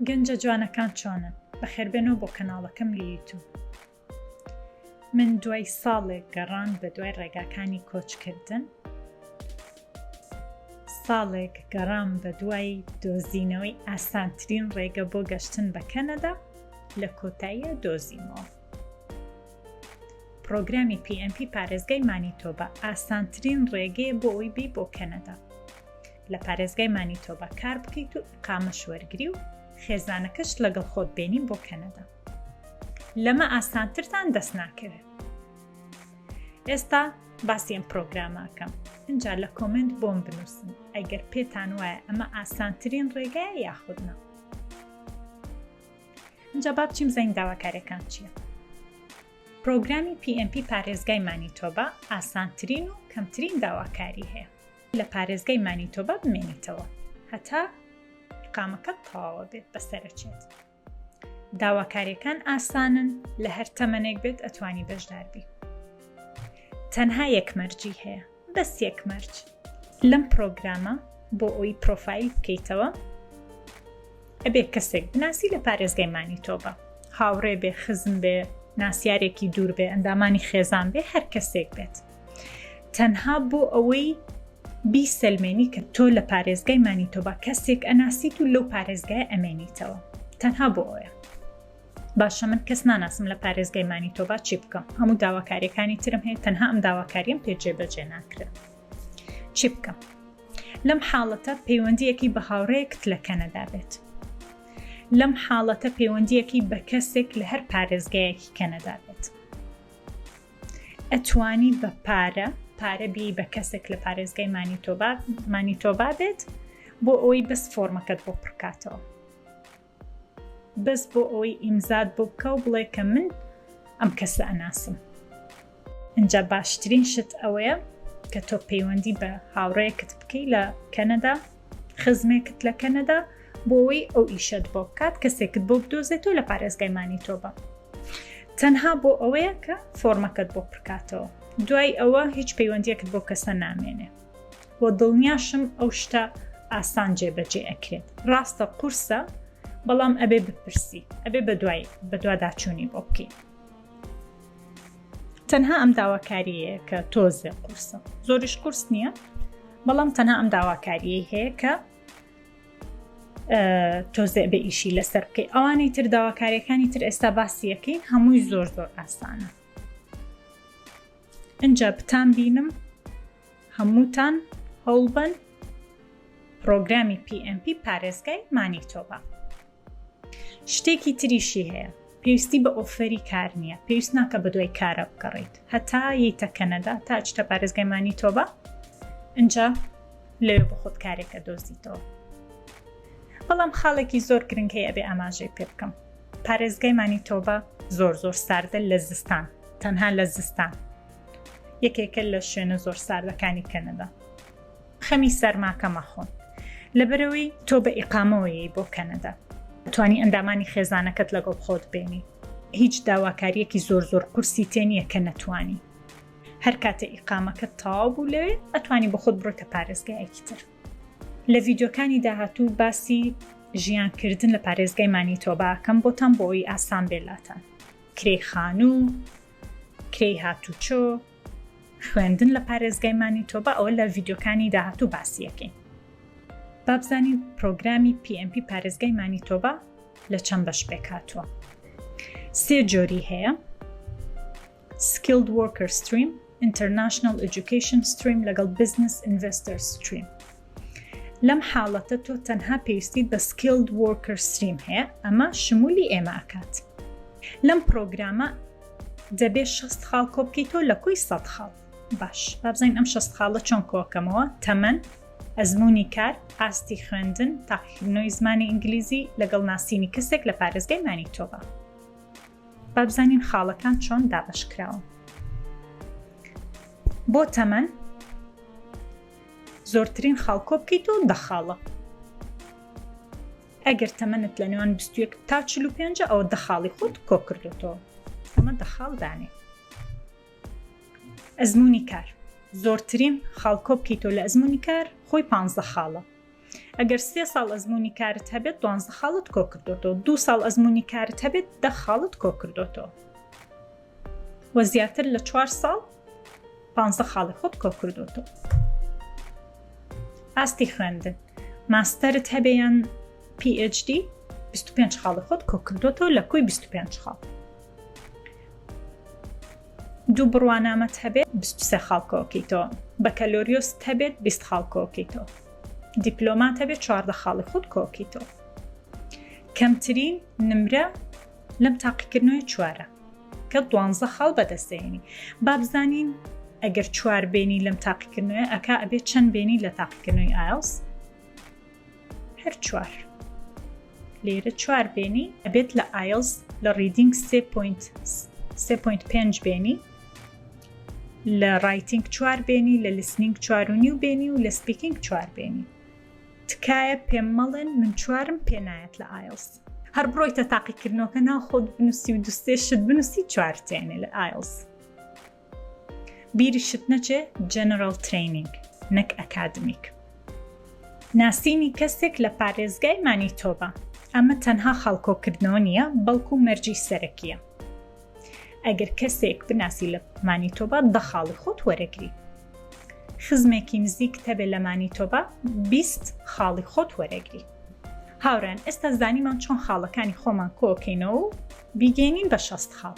گەنجە جوانەکان چۆنن بەخێربێنەوە بۆ کەناڵەکەم لە یوتوب من دوای ساڵێک گەڕان بە دوای ڕێگاکانی کۆچکردن ساڵێک گەڕام بە دوای دۆزینەوەی ئاسانترین ڕێگە بۆ گەشتن بە کەنەدا لە کۆتاییە دۆزیمەوە پرۆگرامی PMP پارێزگای مانیتۆبە ئاسانترین ڕێگەیە بۆ ئەوی بی بۆ کەنەدا لە پارێزگای مانیتۆبا کار بکەیت و ئیقامەش وەرگری و خێزانەکەشت لەگەڵ خۆت بێنین بۆ کەنەدا لەمە ئاسانترتان دەست ناکەوێت ئێستا باسی ئەم پرۆگراماکەم اینجا لە کۆمنت بۆم بنووسن ئەگەر پێتان وایە ئەمە ئاسانترین ڕێگایە یاخودنا اینجا با بچیم زەنگ داواکارەکان چییە پرۆگرامی PMP پارێزگای مانیتۆبا ئاسانترین و کەمترین داواکاری هەیە لە پارێزگای مانیتۆبا بمێنێتەوە هەتا قامەکە تەواوە بێت بەسەرچێت داواکاریەکان ئاسانن لە هەر تەمەنێک بێت ئەتوانی بەشداربی تەنها یەکمەرجی هەیە بەس یەکمەرج لەم پرۆگرامە بۆ ئەوی پرۆفایل بکەیتەوە ئەبێ کەسێک بناسی لە پارێزگای مانیتۆبە هاوڕێ بێ خزم بێ ناسیارێکی دوور بێ ئەندامانی خێزان بێ هەر کەسێک بێت تەنها بۆ ئەوەی بیسەلمێنی کە تۆ لە پارێزگای مانیتۆبا کەسێک ئەناسیت و لەو پارێزگای ئەمێنیتەوە تەنها بۆ ئەوە باشە من کەس ناناسم لە پارێزگای مانیتۆبا چی بکەم هەموو داواکاریەکانی ترم هەیە تەنها ئەم داواکاریم پێجێ بەجێ ناکرێت چی بکەم لەم حاڵەتە پەیوەندیەکی بە هاوڕێکت لە کەنەدا بێت لەم حاڵەتە پەیوەندیەکی بە کەسێک لە هەر پارێزگایەکی کەنەدا بێت ئەتوانی بە پارە پارە بی بە کەسێک لە پارێزگای مانیتۆبا مانیتۆبا بێت بۆ ئەوەی بەس فۆرمەکەت بۆ پڕکاتەوە بەس بۆ ئەوەی ئیمزاد بۆ بکە و بڵێ کە من ئەم کەسە ئەناسم ئەجا باشترین شت ئەوەیە کە تۆ پەیوەندی بە هاوڕەیەکت بکەی لە کەنەدا خزمێکت لە کەنەدا بۆەوەی ئەو ئیشەت بۆ بکات کەسێکت بۆ بدۆزێتەوە لە پارێزگای مانیتۆبە تەنها بۆ ئەوەیە کە فۆرمەکەت بۆ پرکاتەوە دوای ئەوە هیچ پەیوەندیەکت بۆ کەسە نامێنێ بۆ دڵنیاشم ئەو شتە ئاسان جێبەجێ ئەکرێت ڕاستە قورسە بەڵام ئەبێ بپرسی ئەبێ بە دوای بەدواداچوونی بۆ بکەیت تەنها ئەم داواکاریەیە کە تۆزێ قورسە زۆریش قورس نییە بەڵام تەنها ئەم داواکاریەی هەیە کە تۆزێ بە ئیشی لەسەر بکەی ئەوانەی تر داواکاریەکانی تر ئێستا باسیەکەین هەمووی زۆر زۆر ئاسانە ئەجا بتان بینم هەمووتان هەوڵبن پرۆگرامی PMP پارێزگای مانیتۆبە شتێکی تریشی هەیە پێویستی بە ئۆفەری کار نییە پێویست ناکە بە دوای کارە بکەڕیت هەتا یتە کەنەدا تا چتە پارێزگەمانی تۆبە ئەجا لەوێ بە خۆت کارێکە دۆزیتەوە بەڵام خاڵێکی زۆر گرنگ هەیە بێ ئاماژەی پێ بکەم پارێزگای مانی تۆبە زۆر زۆر ساردە لە زستان تەنها لە زستان یەکێکە لە شوێنە زۆر ساردەکانی کەنەدا خەمی سەرماکە مەخۆ لەبەرەوەی تۆ بە ئیقامەوەیەی بۆ کەنەدا توانی ئەندامانی خێزانەکەت لەگەڵ خۆت بێنی هیچ داواکاریەکی زۆر زۆر قورسی تێ نییە کە نەتوانی هەر کاتە ئیقامەکە تاو بوو لەوێ ئەتوانی بە خۆت بڕۆتە پارێزگایەکی تر لە ڤیددیوکانی داهاتوو باسی ژیانکردن لە پارێزگای مانی تۆباکەم بۆتان بۆی ئاسان بێلاتان کرێی خانوو کرێی هاتوچۆ خوێندن لە پارێزگای مانیتۆبا ئەوە لە ڤیدیۆکانی داهاتوو باسی ئەکەین با بزانین پرۆگرامی PMP پارێزگای مانیتۆبا لە چەند بەش پێک هاتووە سێ جۆری هەیە Skilled Worker Stream International Education Stream لەگەڵ Business Investor Stream لەم حاڵەتە تۆ تەنها پێویستیت بە Skilled Worker Stream هەیە، ئەمە شمولی ئێمە ئەکات. لەم پرۆگرامە دەبێت 6 خاڵ کۆبکەیتەوە لە کۆی 100 خاڵ. باش بابزین ئەم 6 خاڵە چۆن کۆکەمەوە تەمەن، ئەزمونی کار، ئاستی خوێندن، تاقیکردنەوەی زمانی ئینگلیزی لەگەڵ ناسینی کەسێک لە پارێزگای مانیتۆبا. بابزانین خاڵەکان چۆن دابەشکراون. بۆ تەمەن زۆرترین خاڵ کۆبکەیتەوە دە خاڵە. ئەگەر تەمەنت لە نێوان 21 تا 45 ئەوە دە خاڵی خۆت کۆکردوتەوە ئەمە دە خاڵ دانێ ئەزمموی کار زۆرترین خاڵ کۆبکەیتەوە لە ئەزمموی کار خۆی پ خاڵە ئەگەر سێ ساڵ ئەزمموی کارت هەبێت دوانزە خاڵت کۆکردۆتەوە دو ساڵ ئەزمموی کارت هەبێت دە خاڵت کۆکردۆتەوە وە زیاتر لە چوار ساڵ پ خاڵی خۆت کۆکردۆتەوە ئاستی خوێندن ماستەرت هەبێیان PhD 25 خاڵی خۆت کۆکردۆتەوە لە کوی 25 خاڵ دوو بڕوانامەت هەبێت بیست و سێ خاڵ کۆکیتەوە، بەکەلۆریۆست هەبێت بیست خاڵ کۆکیتەوە، دیپلۆمات هەبێت چواردە خاڵی خۆت کۆکیتەوە. کەمترین نمرە لەم تاقیکردنەوەی چوارە کە دوانزە خاڵ بەدەستێنی با بزانین ئەگەر چوار بێنی لەم تاقیکردنەوە ئەکا ئەبێت چەند بێنی لە تاقیکردنەوەی ئایلس هەر چوار لێرە چوار بێنی ئەبێت لە ئایلز لە ڕیدینگ سێ پوینت سێ پوینت پێنج بێنی لە ڕایتنگ چوار بێنی لە لسنینگ چوارونی و بێنی و لە سپیکینگ چوار بێنی تکایە پێم مەڵێن من چوارم پێنایەت لە ئایلز هەر بڕۆیتە تاقیکردنەوەکە ناو خۆت بنووسی و دوستێشت بنووسی چوارتێنێ لە ئایلز بیرشت نەچێ جەنەراڵ ترەینینگ نەک ئەکادمیک ناسینی کەسێک لە پارێزگای مانیتۆبا ئەمە تەنها خاڵکۆکردنەوە نییە بەڵکو مەرجی سەرەکیە ئەگەر کەسێک بناسی لە مانیتۆبا دە خاڵی خۆت وەرەگری خزمێکی نزیک تەبێ لە مانیتۆبا بیست خاڵی خۆت وەرەگری هاوران ئێستا زانیمان چۆن خاڵەکانی خۆمان کۆکەینەوە و بیگەینین بە شەست خاڵ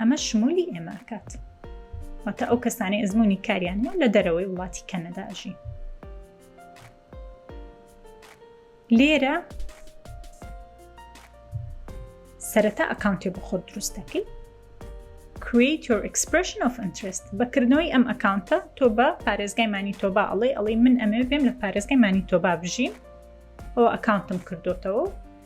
ئەمە شمولی ئێمە ئەکات واتە ئەو کەسانی ئەزمموی کاریان هەیە لە دەرەوەی وڵاتی کەنەداژی لێرە سەرەتا ئەکاونتی بۆ خۆت دروست دەکەیت create your expression of interest بەکردنەوەی ئەم ئەکاونتە تۆ بە پارێزگای مانی تۆبا ئەڵێ ئەڵی من ئەمێ بێم لە پارێزگای مانی تۆبا بژین ئەو ئەکاونتم کردوتەوە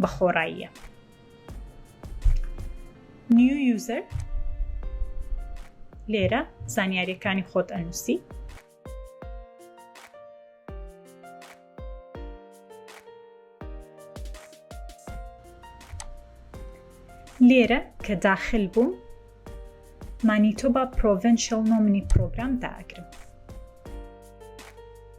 بە خۆڕاییە نیو یوزەر لێرە زانیاریەکانی خۆت ئەنووسی لێرە کە داخل بووم مانیتۆبا پرۆڤنشل نۆمنی پرۆگرام داگرم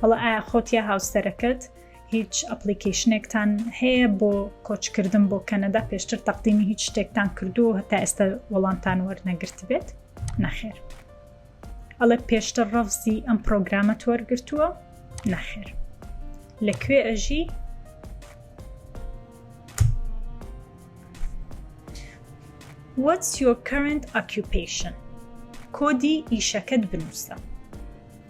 وەڵا ئایا خۆت یا هاوسەرەکەت هیچ ئەپلیکیشنێکتان هەیە بۆ کۆچکردن بۆ کەنەدا پێشتر تەقدیمی هیچ شتێکتان کردو هەتا ئێستا وەڵامتان وەرنەگرت بێت نەخێر ئەڵێ پێشتر ڕەفزی ئەم پرۆگرامە تۆرگرتووە نەخێر لەکوێ ئەژی What's your current occupation؟ کۆدی ئیشەکەت بنووسە.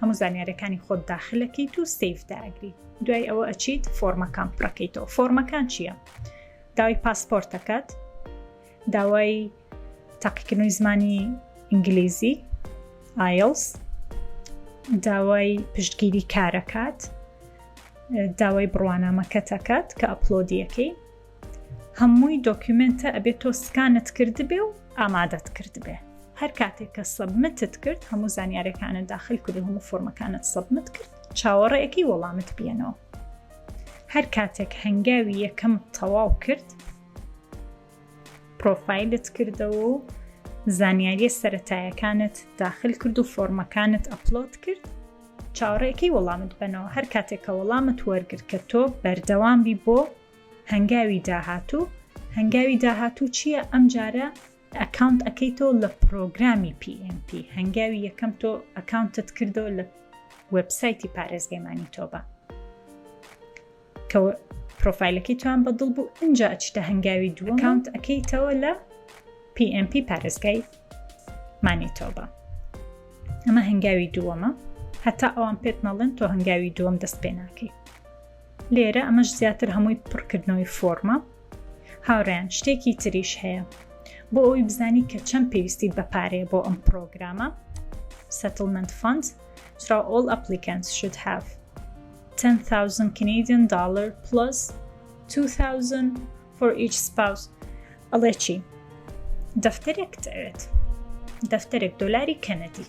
هەموو زانیارەکانی خۆت داخلەکەیت و سیف داگری دوای ئەوە ئەچیت فۆرمەکان پڕەکەیتەوە فۆرمەکان چییە؟ داوای پاسپۆرتەکەت داوای تاقیکردنەوەی زمانی ئینگلیزی ئایلس داوای پشتگیری کارەکات داوای بڕوانامەکەتەکات کە ئەپلۆدیەکەی هەمووی دۆکیومێنتە ئەبێ تۆ سکانت کردبێ و ئامادەت کردبێ هەر کاتێک کە سەبمتت کرد هەموو زانیارەکانت داخل کرد و هەموو فۆرمەکانت سەبمت کرد چاوەڕێەکی وەڵامت بێنەوە هەر کاتێک هەنگاوی یەکەم تەواو کرد پرۆفایلت کردەوە و زانیاریە سەتایەکانت داخل کرد و فۆرمەکانت ئەپلۆت کرد چاوەڕێکی وەڵامت بنەوە هەر کاتێک کە وەڵامت وەرگر کە تۆ بەردەوام بی بۆ هەنگاوی داهاتوو هەنگاوی داهاتوو چییە ئەم جارە ئەکاونت ئەەکەیتەوە لە پرۆگرامی PMP هەنگاوی یەکەم تۆ ئەکاونتت کردەوە لە وبسایتی پارێزگەمانی تۆبە کە پرۆفایلەکەی توان بەدڵ بوو ئەجا ئەچتە هەنگاوی دووە کاونت ئەەکەیتەوە لە PMP پارێزگای مانی تۆبە ئەمە هەنگاوی دووەمە هەتا ئەوان پێت نەڵێن تۆ هەنگاوی دووەم دەست پێ ناکەیت لێرە ئەمەش زیاتر هەمووی پڕکردنەوەی فۆرمە هاوڕیان شتێکی تریش هەیە بۆ ئەوی بزانی کە چەند پێویستی بەپارەیە بۆ ئەم پرۆگرامە سەتلمنت فند سرا ئۆل ئەپلیکەنس شت هاف 10,000 Canadian dollar plus 2,000 for each spouse ئەڵێ چی دەفتەرێک دەوێت دەفتەرێک دۆلاری کەنەدی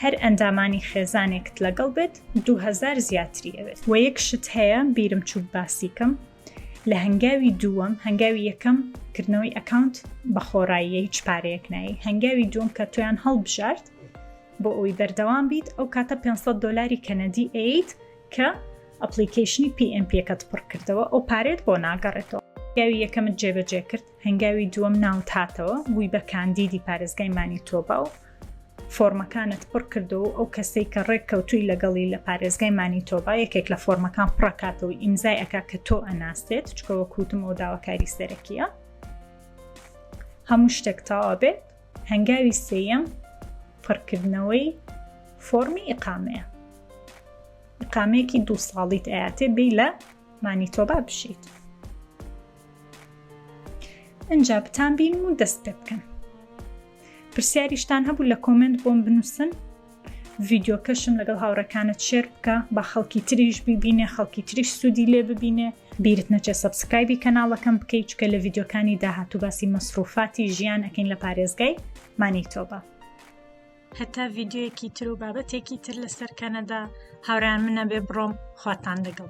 هەر ئەندامانی خێزانێکت لەگەڵ بێت دو هەزار زیاتری ئەوێت وە یەک شت هەیە بیرم چوو باسیکەم لە هەنگاوی دووەم هەنگاوی یەکەم کردنەوەی ئەکاونت بە خۆڕاییە هیچ پارەیەک نایی هەنگاوی دووەم کە تویان هەڵبژارد بۆ ئەوی بەردەوام بیت ئەو کاتە 500 دلاری کەنەدی ئەیت کە ئەپلیکیشنی PMPەکەت پڕکردەوە ئەو پارێت بۆ ناگەڕێتەوە یاوی یەکەمت جێبەجێ کرد هەنگاوی دووەم ناوت هاتەوە بووی بە کاندیدی پارێزگای مانیتۆبا و فۆرمەکانت پڕ کردەوە و ئەو کەسەی کە ڕێک کەوتووی لەگەڵی لە پارێزگای مانیتۆبا یەکێک لە فۆرمەکان پڕەکاتەوە ئیمزای ئەکا کە تۆ ئەناستێت چکە وەک وتم ئەو داواکاری سەرەکیە هەموو شتێک تاوا بێت هەنگاوی سێەم پڕکردنەوەی فۆرمی ئیقامەیە ئیقامەیەکی دوو ساڵیت ئااتێ بی لە مانیتۆبا بشیت ئینجا بتان بینم و دەست پێ بکەم پرسیاریشتان هەبوو لە کۆمنت بۆم بنووسن ڤیددیوکەشم لەگەڵ هاوڕەکانت شێر بکە بە خەڵکی تریش ببینێ خەڵکی تریش سوودی لێ ببینێ بیرت نەچێت سبسکرایبی کەناڵەکەم بکەیت چکە لە ڤیددیوکانی داهات و باسی مەسروفاتی ژیان ئەەکەین لە پارێزگای مانی تۆبە هەتا ڤیددیوەکی تر و بابەتێکی تر لەسەر کەنەدا هاوران منە بێ بڕۆم خواتان لەگەڵ